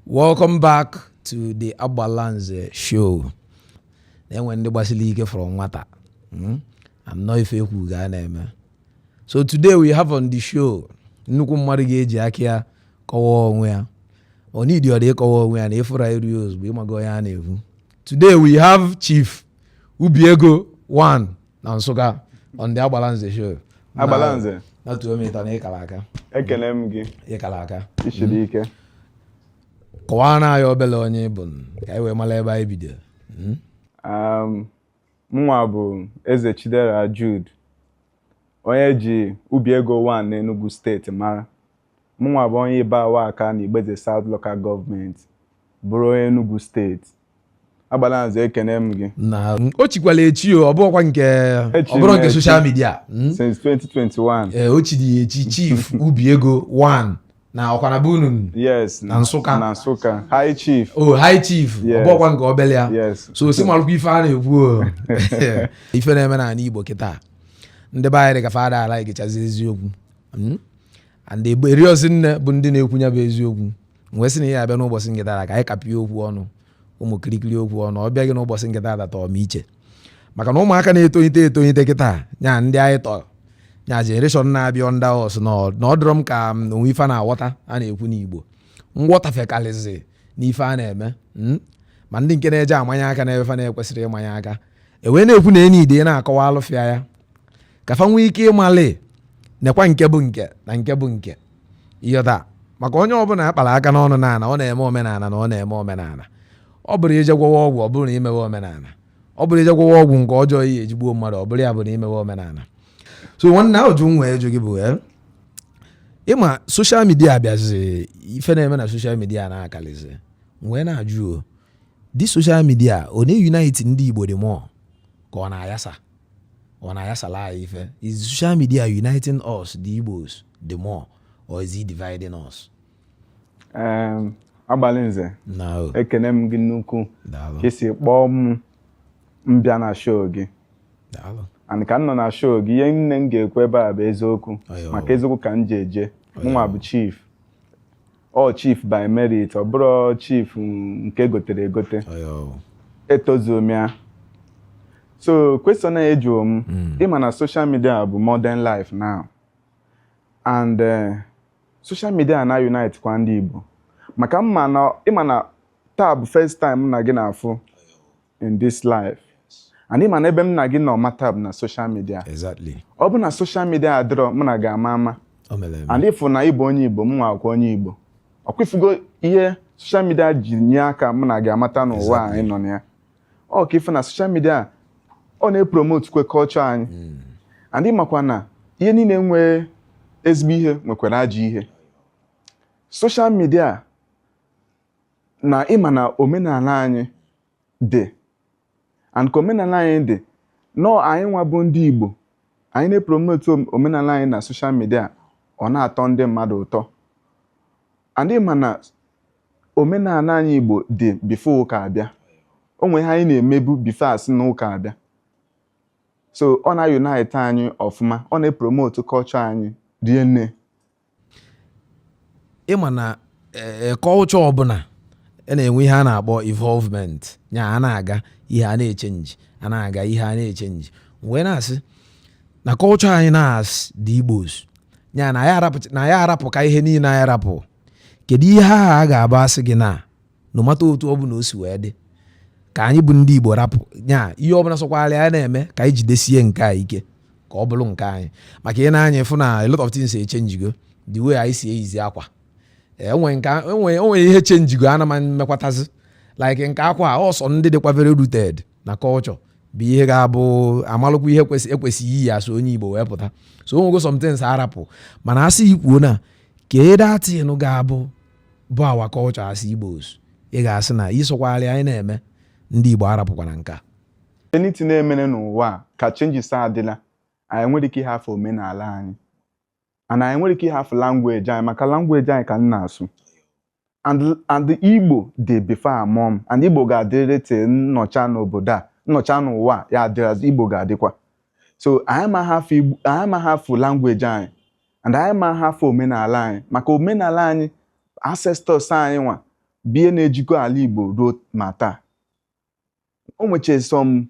welcome back to the agbalanze show na-enwe ndị gbasiri ike from nwata Mm? and ọ ife ekwu ka a na-eme so today we have on the show nnukwu mmadụ ga-eji aka ya kọwaa onwe ya o needirọ dị ịkọwa onwe ya na ị fụ ya iru ozugbo ị maga onye a na-ekwu today we have chief ubi ego 1 na nsụka on the agbalanze show agbalanze na tuo m ịtọ na ịkara aka ekele m gị ịkara aka isiri ike kọwaara anyị obere onye ị bụ ka anyị wee mara ebe anyị bido hmm? um, mụnwa bụ eze chidera jude onye e ji ubi ego 1 n'enugu steeti mara mụnwa bụ onye ibagwa aka na igbo eze south local government bụrụ onye enugu steeti agbalanze ekene m gị na o chikwala echi o ọ bụrọkwa nke Echi ọ bụrụ m nke echi. social media mm? since 2021 ee o chiri ya echi chief ubi ego 1 na ọkwa na be unu yes Na Nsụka. na Nsụka high chief o high chief ọ Yes. bụrọkwa nke obele ya yes so si malụkwa ife a na-ekwu o ife na-eme n'ala igbo kịta ndị be anyị dị ka fa adala egechazi eziokwu Mm? and erirozi nne bụ ndị na-ekwu ya bụ eziokwu wee sị nya bịa n'ụbọchị nke tata ka anyị kapịa okwu ọnụ ụmụ kirikiri okwu ọnụ ọ bịaghị n'ụbọchị nke tata tọọ m iche maka na ụmụaka na-etonyite etonyite kịta nya ndị anyị tọrọ nya generation na-abịa under us na ọ dịrọ m ka o nwe ife fa na-aghọta a na-ekwu n'Igbo nghọtafe karịzi n'ife a na-eme hmm? ma ndị nke na-eje amanye aka n'ife na-ekwesịrọ ịmanye aka ewee na-ekwu na e needi na-akọwalụ fa ya ka fa nwee ike ịmalị nekwa nke bụ nke na nke bụ nke ịghọta maka onye ọbụla akpara aka n'ọnụ n'ala ọ na-eme omenala na ọ na-eme omenala ọ bụrọ ije gwọwa ọgwụ ọ bụrụ na imewe omenala ọ bụrọ ije gwọwa ọgwụ nke ọjọọ ihe e ji gbuo mmadụ ọ bụrọ ya bụ na imewe omenala so nwanne ajụjụ m nwe ịjụ gị bụ eh, ịma social media bịazi ife na-eme na social media na-akalizi wee na-ajụ o the social media ọ na-eunite ndị Igbo the more ka ọ na-ayasa ọ na-ayasala anyị ife is social media uniting us the Igbos the more or is it dividing us Em, agbalanze na o ekene m gị nnukwu daalụ ka i si kpọọ m m bịa na show gị daalụ and ka m nọ na show gị ihe nine m ga-ekwu ebe a bụ eziokwu Ayo. maka eziokwu ka m ji eje mụnwa bụ chief ọ chief by merit ọ bụrọ chief nke e gotere egote etozuo m ya so question a ị jụrụ m hmm. ịma na social media bụ modern life now and eh, social media na-unite kwa ndị Igbo maka mma na ịma na taa bụ first time mụ na gị na-afụ in this life and ịma na ebe m na gị nọ mata bụ na social media exactly ọ bụ na social media adịrọ mụ na gị ama ama o mere eme and ịfụ na ịbụ onye igbo m nwa akwa onye igbo ọ kwa ị fụgo ihe social media ji nye aka mụ na gị amata n'ụwa Exactly. anyị nọ na ya ọ kwa ị fụ na social media ọ na-epromotekwa culture anyị and ị makwa na ihe niile nwere ezigbo ihe nwekwara ajọ ihe social media na ịma na omenala anyị dị and ka omenala anyị dị nọ anyị nwa bụ ndị Igbo anyị na-epromote omenala anyị na social media ọ na-atọ ndị mmadụ ụtọ and ịma na omenala anyị Igbo dị before ụka abịa o nwere ihe anyị na-emebu before a sị na ụka abịa so ọ na-unite anyị ọfụma ọ na-epromote culture anyị rie nne ịma na culture eh, ọbụla a na-enwe ihe a na-akpọ involvement ya a na-aga ihe a na-echenji a na-aga ihe a na-echenji wee na-asị na culture anyị na as the Igbos ya na ya arapụ ka ihe niile anyị arapụ kedu ihe ahụ a ga-abụ a sị gị na no matter otu ọ bụla o si wee dị ka anyị bụ ndị Igbo rapụ nya ihe ọ bụla sọkwara ya na-eme ka anyị jidesie nke a ike ka ọ bụrụ nke anyị maka ị nee anya ị fụ na a lot of things echenjigo the way anyị si eyizi akwa e nwere ihe chenjigo ana ma mmekwatazi like nke akwa a ọ sọ ndị dịkwa very rooted na culture bụ ihe ga-abụ amalụkwa ihe e kwesịrị iyi as onye Igbo wee pụta so o nwego somethings arapụ mana a sị ị kwuo na kee that thing ọ ga-abụ bụ our culture as Igbos ị ga-asị na ihe sọkwara anyị na-eme ndị Igbo arapụkwara nke a anything na-emere n'ụwa a ka changes adịla anyị enwerọ ike ịhafụ omenala anyị and anyị enwerọ ike ịhafụ language anyị maka language anyị ka m na-asụ and and Igbo dị before a mụọ m and Igbo ga-adịrịrị te m nọcha n'obodo a m nọcha n'ụwa a, ya adịrịazị Igbo ga-adịkwa so anyị ma hafụ Igbo- anyị ma hafụ language anyị and anyị ma hafụ omenala anyị maka omenala anyị ancestors anyị nwa bụ ihe na-ejikọ ala Igbo ruo ma taa o nwecha some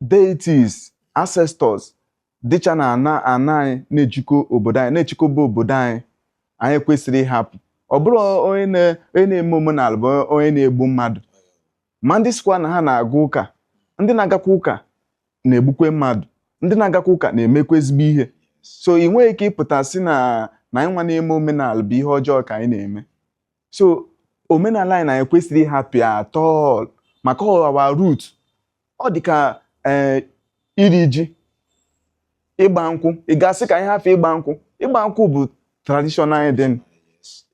deities ancestors dịcha na ana ana anyị na-ejikọ obodo anyị na-achịkọba obodo anyị anyị ekwesịrọ ịhapụ ọ bụrọ onye na-eme omenala bụ onye na-egbu mmadụ ma ndị sịkwa na ha na-aga ụka ndị na-agakwa ụka na-egbukwa mmadụ ndị na-agakwa ụka na-emekwa ezigbo ihe so ị nweghị ike ịpụta sị na na anyị nwa na-eme omenala bụ ihe ọjọọ ka anyị na-eme so omenala anyị na anyị ekwesịrọ ịhapụ ya at all maka ọ wụ our root ọ dị ka ee eh, iri ji ịgba nkwụ ị ga-asị ka anyị hafụ ịgba nkwụ ịgba nkwụ bụ traditional wedding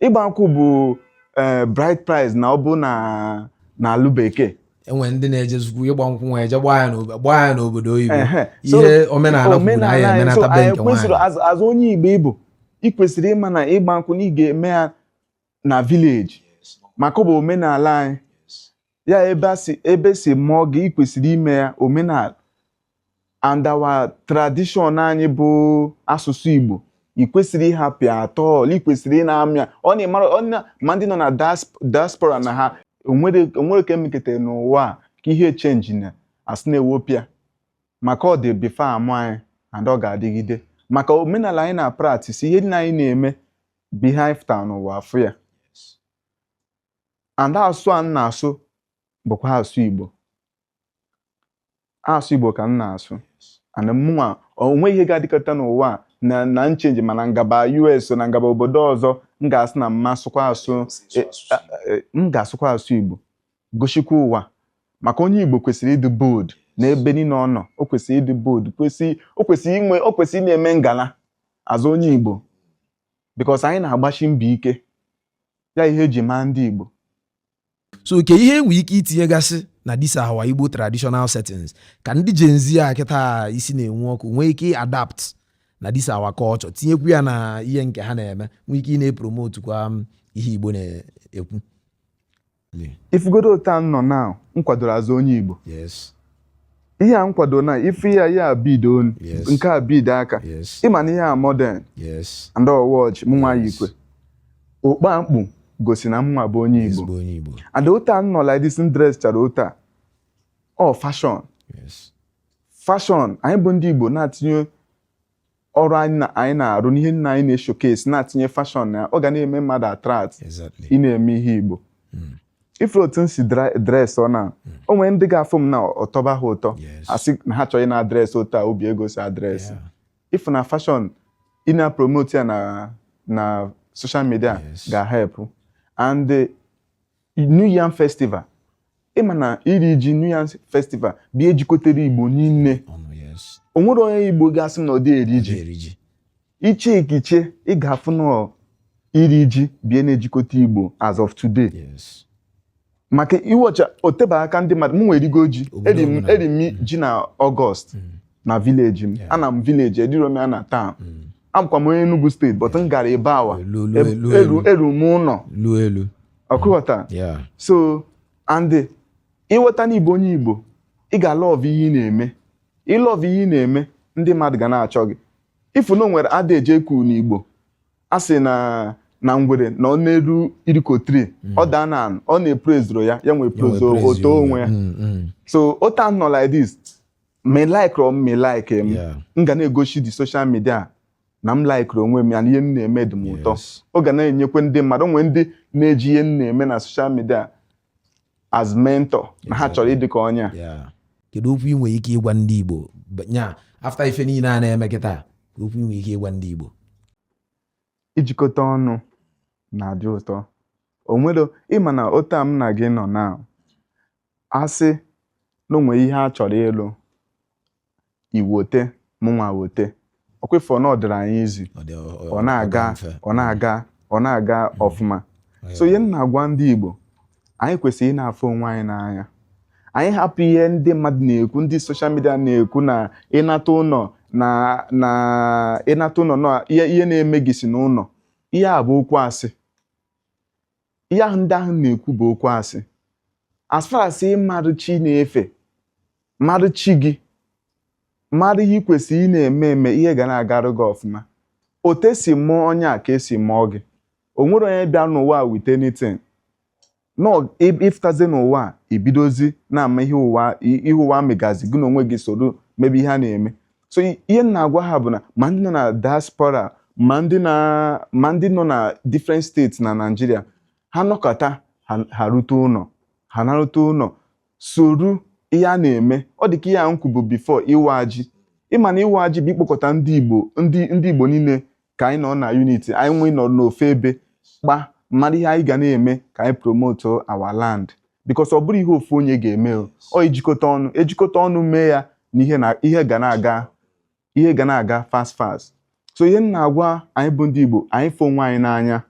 ịgba nkwụ bụ eh, bride price na ọ bụ na na alụ bekee enwe ndị na-eje zukwu ịgba nkwụ nwa eje gbaa ya n'obodo gbaa ya n'obodo oyibo Ehe. So, ihe omenala kwuru na omenala anyị anyị, emenata so be anyị nke kwesịrị nwaanyị as- as onye Igbo ị bụ ị kwesịrị ịma na ịgba nkwụ na ị ga-eme ya na village maka ọ bụ omenala anyị ya ebe a si ebe si mụọ gị ị kwesịrị ime ya omenala and our tradition anyị bụ asụsụ Igbo ị kwesịrị ịhapụ ya at all ị kwesịrị ị na-eme ya ọ na-emara ọ na ma ndị nọ na diasp- diaspora na ha o nwere o nwere ka e mekete n'ụwa a ka ihe change na asị na-ewipe ya maka ọ dị before a mụ anyị and ọ ga-adịgide maka omenala anyị na-practise ihe niile anyị na-eme beehive town ụwa afụ ya and asụ a m na-asụ bụkwa asụ Igbo asụ Igbo ka m na-asụ and mụnwa o nwe ihe ga-adịkọta n'ụwa a na na m change mana m gaba US na m gaba obodo ọzọ m ga-asụ na m ma asụkwa asụ e, e, m ga-asụkwa asụ Igbo gosikwa ụwa maka onye Igbo kwesịrị ịdị bold n'ebe niile ọ nọ o kwesịrị ịdị bold kwesị o kwesịrị inwe o kwesịrị na-eme ngala as onye Igbo because anyị na-agbashi mbọ ike ya ihe e ji maa ndị Igbo so kee ihe e nwe ike itinyegasị na this our Igbo traditional settings ka ndị Gen Z a kịta isi na-enwe ọkụ nwee ike adapt na this our culture tinyekwu ya na ihe nke ha na-eme nwee ike ị na-epromote kwa um, ihe Igbo na-ekwu ị fugodu otu m nọ na m kwadoro as onye Igbo ihe a m kwado na ife ya ya bead onu nke a bead aka ị ma na ihe a modern and watch m nwa yikwe okpu m kpu gosi na m nwa bụ onye Igbo and otu a m nọ like this m dress chara otu a ọ fashion fashion anyị bụ ndị Igbo na-atinye ọrụ anyị na- anyị na-arụ n'ihe nna anyị na-eshowcase na-atinye fashion na ya ọ ga na-eme mmadụ attract Exactly. ị na-eme ihe Igbo ị fụrụ otu m si dra- dress ọ na o nwere ndị ga-afụ m na ọ tọba ha ụtọ Yes. asị na ha chọ ị na-adress otu a obi ego si adress Yeah. ị fụ na fashion ị na-promote ya na na social media Yes. ga-help and eh, New Yam Festival ị ma na iri ji New Yam Festival bụ ihe jikọtara Igbo niile ọnụ yes o nwere onye Igbo ga-asị na ọ dị eri ji eri ji iche iche ị ga-afụ na iri ji bụ ihe na-ejikọta Igbo as of today yes maka ị watch o tebe aka ndị mmadụ m nwa erigo ji Obodo eri m ọbụla. eri m ji na August Mm. na village m Yeah. ana m village eriro m ya na town Mm. abụkwa m onye Enugu State but m gara Ibagwa Elu, elu, Eb- elu, eru elu. eru m ụlọ lu elu ọkwa ị ghọta so and ị ghọta na ị bụ onye igbo ị ga-alọvụ ihe ị na-eme ị lọvụ ihe ị na-eme ndị mmadụ ga na-achọ gị ị fụ na o nwere adage e ji ekwu n'igbo a sị na na ngwere na ọ na-arị iroko tree mm. ọ daa n'ana ọ na eprezirọ ya ya nwa eprezo o too onwe ya mm, mm. so otu a m nọ like this ma ị likerọ m ma ị like m ga na-egosi the social media na m laikiri onwe m ya na ihe m na-eme dị m ụtọ ọ ga na-enyekwa ndị mmadụ o nwere ndị na-eji ihe m na-eme na soshal midia as mentor na ha chọrọ ịdị ka onye a kedu okwu ị nwere ike ịgwa ndị Igbo nya afta ife niile a na-eme kịta okwu ị nwere ike ịgwa ndị Igbo ijikọta ọnụ na-adị ụtọ o nwere ị ma na otu a m na gị nọ na a sị na o nwere ihe a chọrọ ịlụ i wote mụnwa wote ọkwa ị fụ na ọ dịrị anyị easy ọ na-aga ọ na-aga ọ na-aga hmm. ọfụma so ihe m na-agwa ndị Igbo anyị kwesịrị ị na-afụ onwe anyị n'anya anyị hapụ ihe ndị mmadụ na-ekwu ndị soshal midia na-ekwu na ị nata ụnọ na na ị nata ụnọ na ihe na-eme gị si n'ụnọ ihe a bụ okwu asị ihe ahụ ndị ahụ na-ekwu bụ okwu asị as far as ị marụ chi ị na-efe marụ chi gị marụ ihe ị kwesịrị ị na-eme eme ihe ga na-agarụ gị ọfụma otu esi mụọ onye a ka esi mụọ gị o nwere onye bịa n'ụwa a with anything na ọ- ị- ị fụtazi n'ụwa a i bidozi na-ama ihe ụwa i- ihe ụwa megazi gị na onwe gị soro mebe ihe a na-eme so i- ihe m na-agwa ha bụ na ma ndị nọ na diaspora ma ndị na ma ndị nọ na different states na Naịjirịa ha nọkata ha ha rute ụnọ ha narute ụnọ soro ihe a na-eme ọ dị ka ihe a m kwubu bifo ịwa ji ị ma na ịwa ji bụ ikpokọta ndị Igbo ndị ndị Igbo niile ka anyị nọ na unity anyị wee nọrọ n'ofu ebe kpaa marụ ihe anyị ga na-eme ka anyị promote our land because ọ bụrọ ihe ofu onye ga-eme o ọ e jikọta ọnụ e jikọta ọnụ mee ya na ihe na ihe ga na-aga ihe ga na-aga fast fast so ihe m na-agwa anyị bụ ndị Igbo anyị fụ onwe anyị n'anya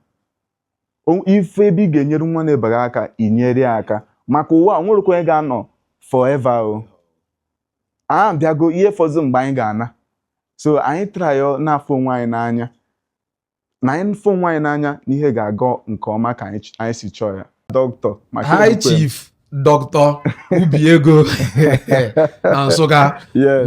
O- ị fụ ebe ị ga-enyere nwanne ibe gị aka i nyere ya aka maka ụwa a, o nwerọkwa onye ga-anọ forever o a bịago ihe fọzụ mgbe anyị ga-ana so anyị trayo na-afụ onwe anyị n'anya na anyị fụ onwe anyị n'anya na ihe ga-aga nke ọma ka anyị si chọọ ya dọkịta maka chief dọkịta ubi ego na nsụka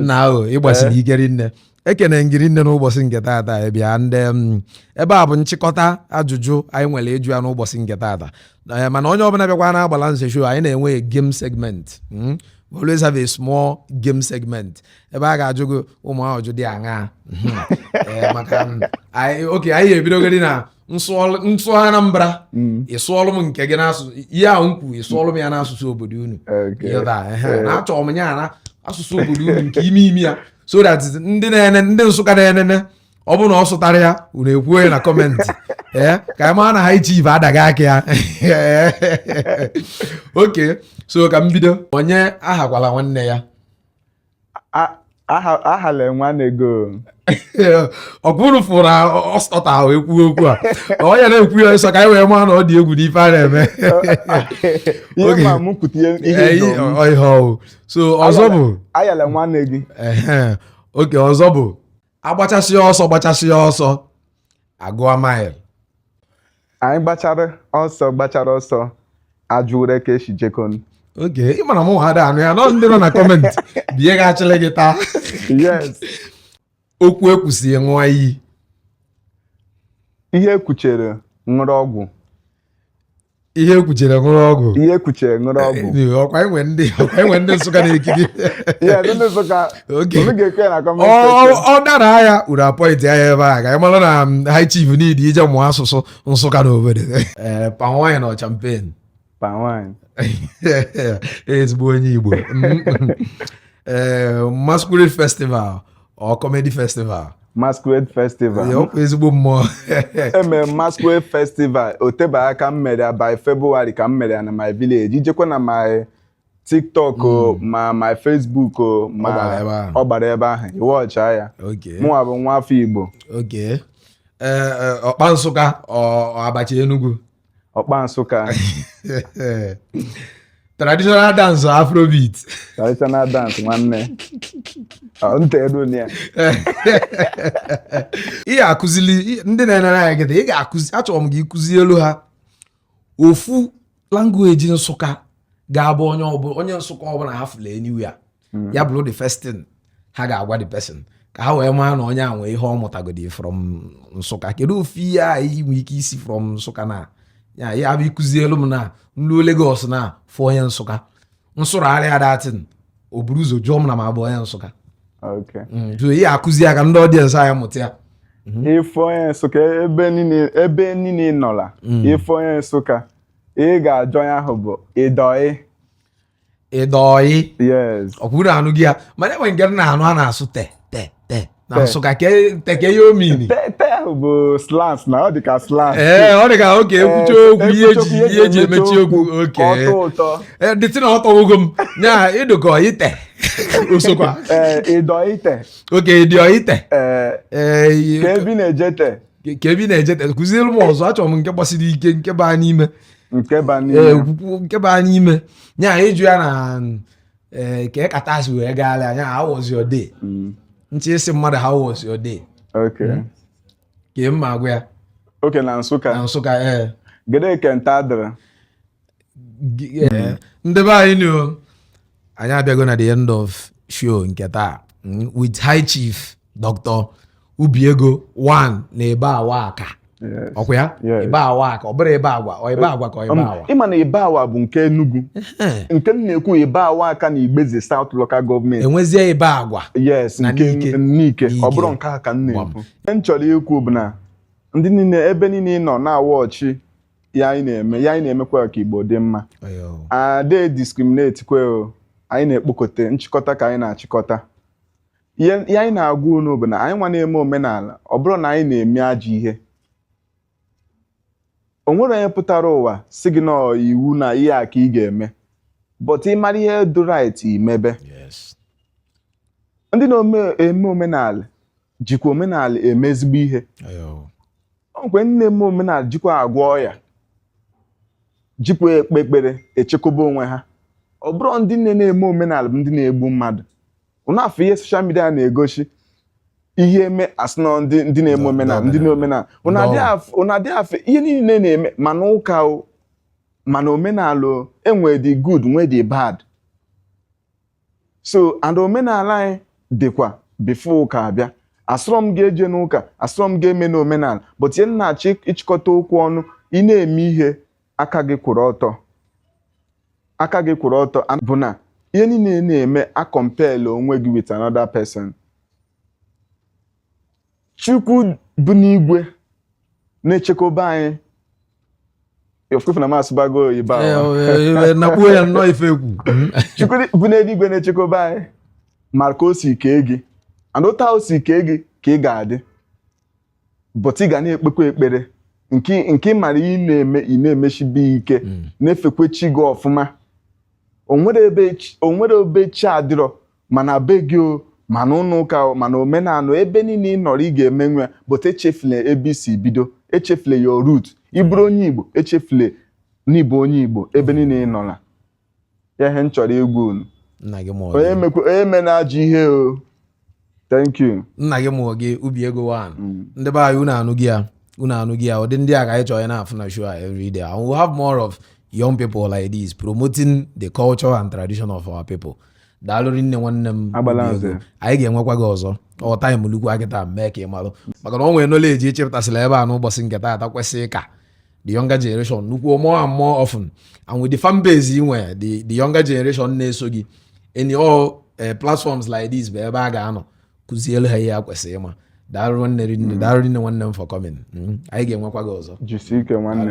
na ị gbasiri ike rinne ekene m gị rinne n'ụbọsị nke taata anyị bịa ndị m, ebe a bụ nchịkọta ajụjụ anyị nwere ịjụ ya n'ụbọsị nke taata Eh, mana onye ọbụna bịakwa na agbalanze show anyị na-enwe a game segment mm? We always have a small game segment ebe a ga-ajụ gị ụmụ ajụjụ dị aṅaa Mhm. Eh, maka m, anyị okay anyị ebidogodi na m sụọlụ- m sụọ Anambra ị sụọlụ m nke gị n'asụsụ ihe ahụ m kwuru ị sụọlụ m ya n'asụsụ obodo unu Okay. Ịghọta, ehe. na achọrọ m ya na asụsụ obodo unu nke ime ime ya so that ndị na-ene ndị nsụka na-enene ọ bụrụ na ọ sụtara ya unu ekwuo ya na comment ee eh, ka anyị mara na high chief adaghị aka ya okay so ka m bido onye ahakwala nwanne ya ahala nwanne gị ọ bụrụ fụrụ ọ sụta ahụ ekwu okwu a ọ ya na-ekwu ya ịsọ ka anyị wee maa na ọ dị egwu n'ife a na-eme ihe so ọzọ bụ ahala nwanne gị ehe okay ọzọ bụ agbachasịa ọsọ gbachasịa ọsọ agụọ mile anyị gbachara ọsọ gbachara ọsọ ajụwere ka esi jekon okay ị mara mụwa ada anụ ya nọ ndị nọ na comment bie gị achịlị gị taa yes okwu ekwusi ṅụọ iyi ihe ekwuchere ṅụrụ ọgwụ ihe ekwuchere ṅụrụ ọgwụ ihe ekwuchere ṅụrụ eh, ọgwụ eh, ọkwa enwe ndị ọkwa enwe ndị nsụka na-ekiri ọ dara ya unu apointịa ya ebe a ka ị mara na mm, high chief need ije mụọ asụsụ nsụka na obodo eh, palm wine or champagne ezigbo onye igbo mm, mm. masquerade festival or comedy festival masquerade festival ọkwa ezigbo mmụọ emere masquerade festival o tebe aka m mere ya by February ka m mere ya na my village i jekwa na my tiktok o hmm. ma my facebook o ma ọ gbara ebe ahụ ị watcha ya mụnwa bụ nwa afọ igbo eh, eh, ọkpa nsụka abacha enugu ọkpa nsụka traditional dance or afrobeat traditional dance nwanne Ọ, nta elu na ya ị ga-akụzili ị- ndị na-enere anyị kịta ị ga-akụzi achọrọ m ka ị kụzielu ha ofu language nsụka ga-abụ onye ọbụla onye nsụka ọbụna ha fụlụ anywhere hmm. ya bụlụ the first thing ha ga-agwa the person ka ha wee maa na onye a nwee ihe ọ mụtagodi from nsụka kedu ofu ihe a i nwe ike isi from nsụka na ya ya bụ ịkụzielu m na m luo Lagos na fụ onye nsụka m sụrụ ya that thing o buru ụzọ jụọ m na m abụ onye nsụka hmm, jụọ ihe akụzi ya ka ndị audience anyị mụta ya Mm-hmm. ị fụ onye nsụka ebe niile nọla mm. ị fụ onye nsụka ị ga-ajụ ya ahụ bụ ị dị ọyị ị dị ọyị o kwuru anụghị ya mana e nwe nke m na-anụ a na-asụ te te te na Nsụka te kee ihe ọ mean te ahụ bụ slang na ọ dị ka slang ee ọ dị ka okay ekwucha okwu ihe e ji ihe e ji emechi okwu okay dịtị na ọ tọwogo m ya ị dụkọ ọyị te o sokwa ị dị ọyị te okay ị dị ọyị te kee ebe ị na-eje te kee ebe ị na-eje te kụziere m ọzọ achọrọ m nke gbasiri ike nke baa n'ime nke ba n'ime ee okwukwu nke baa n'ime nya ịjụ ya na ee kee ka taa si wee gaala anya how was your day Mm, ntị ị sị mmadụ how was your day okay ka ị ma agwa ya okay na Nsụka na Nsụka ee gede ke nta dịrị Gi- eh, ndị be anyị nụ anyị abịago na the end of show nke taa mm, with High Chief Dr. Ubiego one na Ibagwa Aka ọ kwa ya Ibagwa Aka ọ bụrọ Ibagwa ọ Ibagwa Aka ọ Ibagwa ị ma na Ibagwa bụ nke Enugu nke m na-ekwu Ibagwa Aka na Igboeze South Local Government e nwezie Ibagwa yes nke Nike ọ bụrọ nke a ka m na-ekwu m chọrọ ikwu bụ na ndị niile ebe niile ị nọ na-awatch ya anyị na-eme ya anyị na-emekwa ka Igbo dị mma ada discriminate kwe anyị na-ekpokọta nchịkọta ka anyị na-achịkọta ihe ihe anyị na-agwa unu bụ na anyị nwa na-eme omenala ọ bụrọ na anyị na-eme ajọ ihe o nwere onye pụtara ụwa sị gị na ọ iwu na ihe a ka ị ga-eme but ị mara ihe dị right i mebe Yes. ndị na-eme omenala jikwa omenala eme ezigbo ihe Ayo. o nwekwa ndị na-eme omenala jikwa agwọ ọya jikwa ekpe ekpere echekwaba onwe ha ọ bụrọ ndị niile na-eme omenala bụ ndị na-egbu mmadụ ụnụ afụ ihe social media na-egosi ihe e mee a sị na ndị ndị na-eme Ndị- omenala ndị ndị na-omenala ụnụ Ndị adịghị afụ- ụnụ adịghị afụ ihe niile na-eme ma na ụka o ma na omenala o e nwee the good nwee the bad so and omenala anyị dịkwa before ụka abịa asịrọ m gị ejena ụka asịrọ m gị emena omenala but ihe m na-achọ ịchịkọta okwu ọ na ị na-eme ihe aka gị kwụrụ ọtọ aka gị kwụrụ ọtọ and bụ na ihe niile ị na-eme acomparela onwe gị with another person Chukwu bi n'igwe na-echekwaba anyị ofefu na m asụbago oyibo Eh, ahụ. eh, eh, nakpuo ya nnọọ ife egwu Chukwu bi n'eluigwe na-echekwaba anyị mara ka o si kee gị and otu o si kee gị ka ị ga-adị but ị ga na-ekpekwa ekpere nke nke ị mara ị na-eme ị na-emeshibe ike mm. na-efekwe chi gị ọfụma o nwere ebe o nwere ebe chi adịrọ ma na be gị o ma na ụlọ ụka o ma na omenala ebe niile ị nọrọ ị ga-emenwu ya but echefule ebe i si bido echefule your root ị bụrụ onye Igbo echefule na ị bụ onye Igbo ebe niile ị nọla ya ihe m chọrọ igwa unu nna gị mụọ onye gị mekwa onye me na-ajụ ihe o thank you nna gị mụọ gị Obi Ego one Mm. ndị be anyị unu anụgo ya unu anụgo ya ụdị ndị a ka anyị chọrọ ịna-afụ na show a every day and we have more of young people like this promoting the culture and tradition of our people daalụ rinne nwanne m Agbala Obi Ego. nze. anyị ga-enwekwa gị ọzọ ọ time lukwa kịta mee ka ị malụ maka na ọ nwere knowledge ị chepụtasịla ebe a n'ụbọchị nke taata kwesịrị ka the younger generation nụkwuo more and more often and with the fan base ị nwere the the younger generation na-eso gị any all eh, platforms like this bụ ebe a ga-anọ kuzielu ha ihe ha kwesịrị ịma daalụ nwanne rinne hmm. daalụ rinne nwanne m for coming hmm. anyị ga-enwekwa gị ọzọ jisie ike nwanne